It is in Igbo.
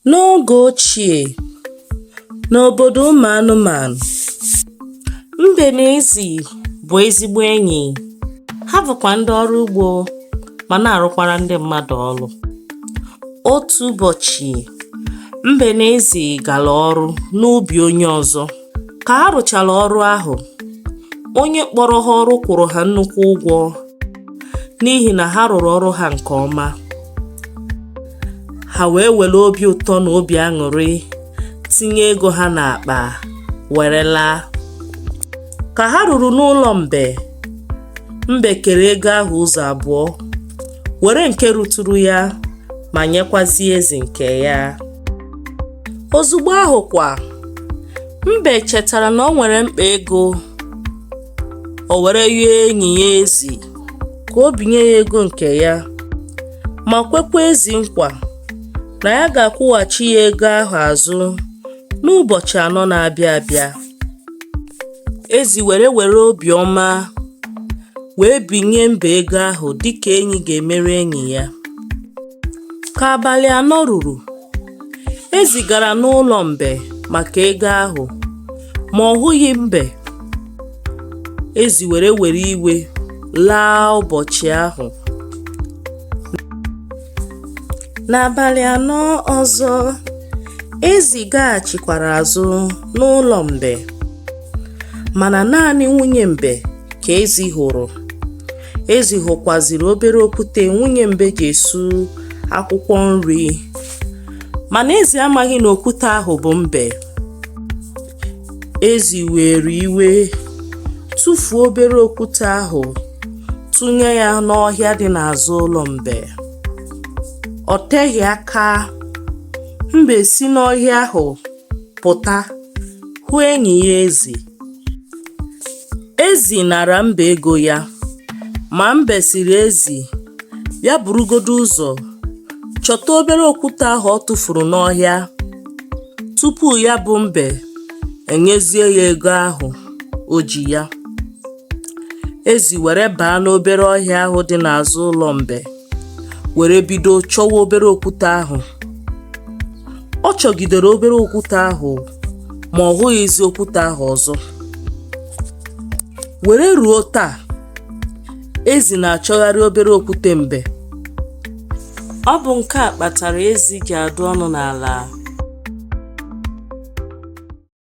N'oge ochie, n'obodo ụmụ anụmanụ, mbe na ezi bụ ezigbo enyi. Ha bụkwa ndị ọrụ ugbo ma na-arụkwara ndị mmadụ ọrụ. Otu ụbọchị, mbe na ezi gara ọrụ n'ubi onye ọzọ. Ka ha rụchara ọrụ ahụ, onye kpọrọ ha ọrụ kwụrụ ha nnukwu ụgwọ n'ihi na ha rụrụ ọrụ ha nke ọma. Ha wee were obi ụtọ na obi aṅụrị tinye ego ha n'akpa were laa. Ka ha ruru n'ụlọ mbe, mbe kere ego ahụ ụzọ abụọ, were nke ruturu ya ma nyekwazie ezi nke ya. Ozugbo ahụ kwa, Mbe chetara na o nwere mkpa ego, o were yọọ enyi ya Ezi ka o binye ya ego nke ya, ma kwekwa Ezi nkwa na ya ga-akwụghachi ya ego ahụ azụ n'ụbọchị anọ na-abịa abịa. Ezi were were obiọma wee binye Mbe ego ahụ dịka enyi ga-emere enyi ya. Ka abalị anọ ruru, ezi gara n'ụlọ mbe maka ego ahụ ma ọ hụghị mbe ezi were were iwe laa ụbọchị ahụ n'abalị anọ ọzọ ezi gaghachikwara azụ n'ụlọ mbe mana naanị nwunye mbe ka ezi hụrụ Ezi hụkwaziri obere okwute nwunye mbe ji esu akwụkwọ nri mana ezi amaghị na okwute ahụ bụ mbe ezi were iwe tụfuo obere okwute ahụ tụnye ya n'ọhịa dị n'azụ ụlọ mbe ọ teghị aka mbe si n'ọhịa ahụ pụta hụ enyi ya ezi Ezi nara mbe ego ya, ma mbe sịrị ezi ya burugodu ụzọ chọta obere okwute ahụ ọ tụfuru n'ọhịa tupu ya bụ mbe enyezie ya ego ahụ o ji ya. Ezi were baa n'obere ọhịa ahụ dị n'azụ ụlọ mbe. were bido chọwa obere okwute ahụ ọ chọgidere obere okwute ahụ ma ọ hụghịzi okwute ahụ ọzọ were ruo taa ezi na-achọgharị obere okwute mbe ọ bụ nke a kpatara ezi ji adụ ọnụ n'ala